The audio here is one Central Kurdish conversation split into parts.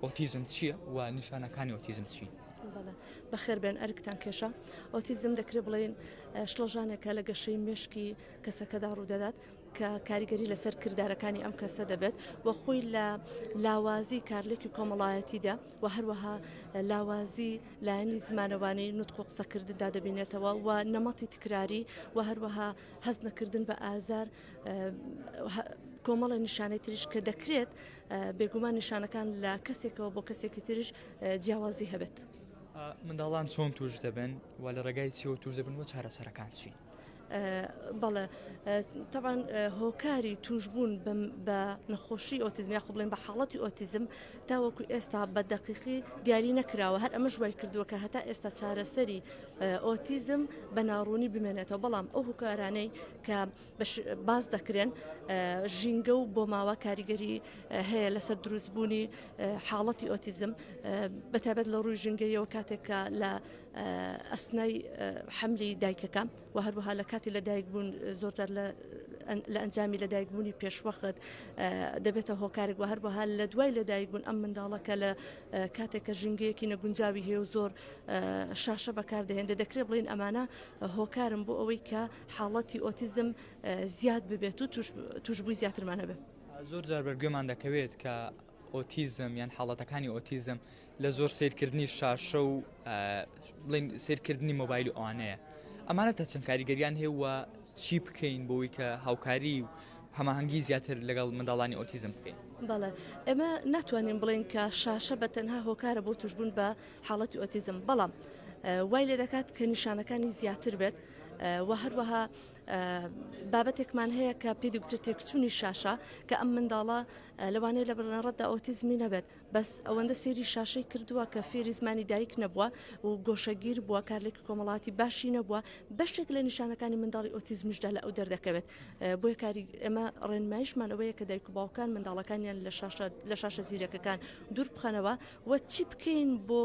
ئۆتیزم چییە و نیشانەکانی ئۆتیزم چین؟ بەخێربێن ئەرکتان کێشە ئۆتیزم دەکرێت بڵێن شڵەژانێکە لە گەشەی مشکی کەسەکەدا ڕوودەدات کە کاریگەری لەسەر کردارەکانی ئەم کەسە دەبێت و خۆی لە لاوازی کارلێکی کۆمەڵایەتیدا و هەروەها لاوازی لایەنی زمانەوانی نوتق و قسەکردندا دەبینێتەوە و نەمەتی تکراری و هەروەها هەست نەکردن بە ئازار کۆمەڵە نیشانەی تریش کە دەکرێت بێگومان نیشانەکان لە کەسێکەوە بۆ کەسێکی تریش جیاوازی هەبێت. منداڵان چۆن توش دەبن و لە ڕێگای چیەوە توش دەبن و چارەسەرەکان چین. بەڵێ تەوان هۆکاری توشبوون بە نەخۆشی ئۆتیزم یا خبڵێن بە حاڵەتی ئۆتیزم تاوەکو ئێستا بە دەقیقی دیاری نەکراوە هەر ئەمە ژوای کردووە کە هەتا ئێستا چارەسەری ئۆتیزم بە ناڕوونی بمێنێتەوە بەڵام ئەو هوکارانەی کە باس دەکرێن ژینگە و بۆ ماوە کاریگەری هەیە لەسەر دروستبوونی حاڵەتی ئۆتیزم بەتابەت لە ڕووی ژنگەیەوە کاتێکە لە ئەسنای حملی دایکەکە و هەروەها لە کاتی لە دایک بوون زۆرجار لە لە ئەنجامی لەدایکبوونی پێشوەخت دەبێتە هۆکارێک و هەروەها لە دوای لەدایکبوون ئەم منداڵەکە لە کاتێکە ژنگەیەکی نەگونجاوی هەیە و زۆر شاشە بەکاردەهێنێ دەکرێت بڵین ئەمانە هۆکارم بۆ ئەوەی کە حاڵەتی ئۆتیزم زیاد ببێت و توشبووی زیاترمان هەبێت. زۆر جار بەرگوێمان دەکەوێت کە ئۆتیزم یان حاڵەتەکانی ئۆتیزم لە زۆر سیرکردنی شاشە و بڵین سیرکردنی مۆبایل و ئەوانەیە ئەمانە تا چەند کاریگەریان هەیە و چی بکەین بۆی کە هاوکاری و هەماهنگگی زیاتر لەگەڵ منداڵانی ئۆتیزم بکەین بەڵێ ئێمە ناتوانین بڵێن کە شاشە بە تەنها هۆکارە بۆ توشببوون بە حاڵەتی ئۆتیزم بەڵام وای لێ دەکات کە نیشانەکانی زیاتر بێت و هەروەها بابەتێکمان هەیە کە پێ دکتر تێکچوونی شاشە کە ئەم منداڵە لەوانەیە لە بڕنەڕەتدا ئۆتیزمی نەبێت بەس ئەوەندە سێری شاشەی کردووە کە فێری زمانی دایک نەبووە و گۆشەگیر بووە کارلێکی کۆمەڵاتی باشی نەبووە بەشێک لە نیشانەکانی منداڵی ئۆتیزمیشدا لە ئەو دەردەکەوێت بۆیە کاری ئەمە ڕێنمایشمان ئەوەیە کە دایک و باوکان منداڵەکانیان لە شاشە لە شاشە زیرەکەکان دوور بخەنەوە و چی بکەین بۆ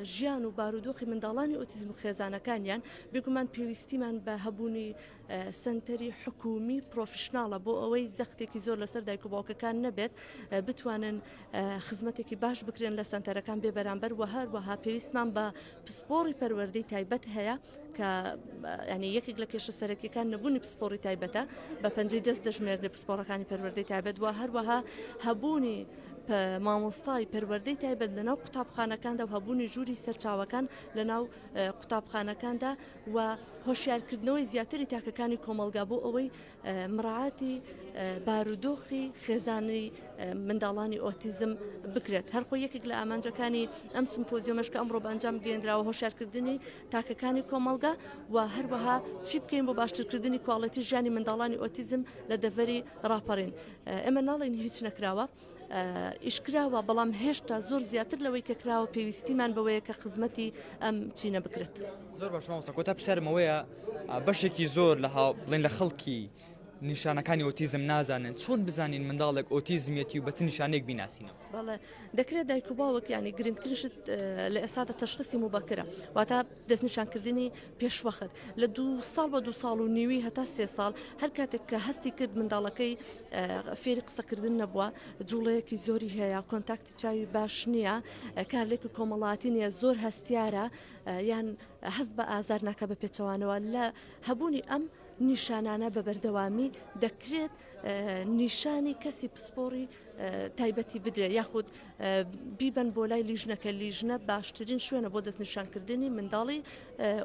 ژیان و بارودۆخی منداڵانی ئۆتیزم و خێزانەکانیان، بێگومان پێویستیمان بە هەبوونی سەنتەری حکوومی پرۆفیشناڵە بۆ ئەوەی زەختێکی زۆر لەسەر دایک و باوکەکان نەبێت بتوانن خزمەتێکی باش بکرێن لە سەنتەرەکان بێ بەرامبەر وە هەروەها پێویستمان بە پسپۆڕی پەروەردەی تایبەت هەیە. کە ینی یەکێک لە کێشە سەرەکیەکان نەبوونی پسپۆری تایبەتە بە پەنجەی دەست دەژمێرد لە پسپۆڕەکانی پەروەردەی تایبەت وە هەروەها هەبوونی مامۆستای پەروەردەی تایبەت لەناو قوتابخانەکاندا و هەبوونی ژووری سەرچاوەکان لەناو قوتابخانەکاندا و هۆشیارکردنەوەی زیاتری تاکەکانی کۆمەلگا بۆ ئەوەی مراعاتی بارودۆخی خێزانی منداڵانی ئۆتیزم بکرێت هەرخۆ یەکێک لە ئامانجەکانی ئەم سمپۆزیۆمەش کە ئەمڕۆ بەنجام گەێنراوە هۆشارکردنی تاکەکانی کۆمەڵگا و هەروەها چی بکەین بۆ باشترکردنی کوواڵەتی ژیانی منداڵانی ئۆتیزم لە دەڤەری راپەڕین ئێمە ناڵین هیچ نەکراوە. یش کراوە بەڵام هێشتا زۆر زیاتر لەوەی کە کراوە پێویستیمان بەوەیە کە خزمەتی ئەم چینە بکرێت زۆر باشمەوەسە کۆتا پسرمەوەیە بەشێکی زۆر لە بڵین لە خەڵکی نیشانەکانی ئۆتیزم نازانن چۆن بزانین منداڵێک ئۆتیزمیەتی و بەچ نیشانێک بیناسینە بەڵێ دەکرێت دایک و باوەکیانی گرنگترشت لە ئێستا دە تەشخصی مبەکرە واتا دەستنیشانکردنی پێشوەخت لە دوو ساڵ بە دوو ساڵ و نیوی هەتا سێ ساڵ هەر کاتێک کە هەستی کرد منداڵەکەی فێری قسەکردن نەبووە جوڵەیەکی زۆری هەیە کۆنتاکتی چاوی باش نییە کارلێک و کۆمەڵاتی نیە زۆر هەستیارە یان هەست بە ئازار ناکە بە پێچەوانەوە لە هەبوونی ئەم نیشانانە بە بەردەوامی دەکرێت نیشانی کەسی پسپۆڕی تایبەتی بدرێت یاخود بیبن بۆ لای لیژنەکە لیژنە باشترین شوێنە بۆ دەستنیشانکردنی منداڵی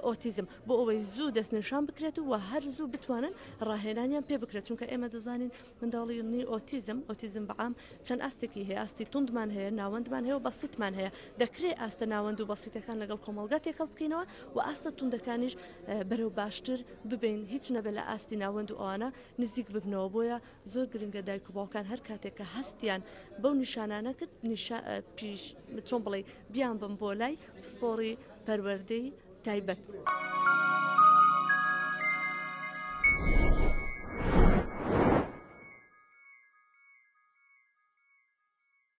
ئۆتیزم بۆ ئەوەی زوو دەستنیشان بکرێت و هەر زوو بتوانن ڕاهێنانیان پێ بکرێت چونکە ئێمە دەزانین منداڵی نی ئۆتیزم ئۆتیزم بەعام چەند ئاستێکی هەیە ئاستی توندمان هەیە ناوەندمان هەیە و بەسیتمان هەیە دەکرێت ئاستە ناوەند و بەسیتەکان لەگەڵ کۆمەلگا تێکەڵ بکەینەوە و ئاستە توندەکانیش بەرەو باشتر ببین هیچ نەبێت لە ئاستی ناوەند و ئەوانە نزیک ببنەوە بۆیە زۆر گرنگە دایک و باوکان هەر کاتێک کە هەستیان بەو نیشانانە کرد پیش چۆن بڵێ بیان بم بۆ لای پسپۆڕی پەروەردەی تایبەت.